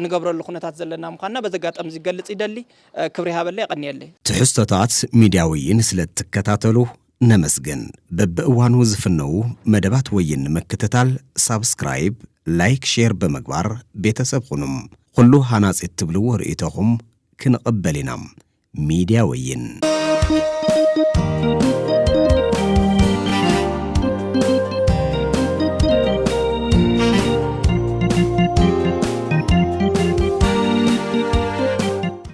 ንገብረሉ ኩነታት ዘለና ምኳንና በዚ ኣጋጣሚ እዚ ገልፅ ይደሊ። ክብሪ ይሃበለይ የቐንየለይ። ትሕዝቶታት ሚድያ ወይን ስለእትከታተሉ ነመስግን በብእዋኑ ዝፍነዉ መደባት ወይን ንምክትታል ሳብስክራይብ ላይክ ሼር ብምግባር ቤተሰብ ኹኑም ኹሉ ሃናፂ እትብልዎ ርእይቶኹም ክንቕበል ኢና ሚድያ ወይን።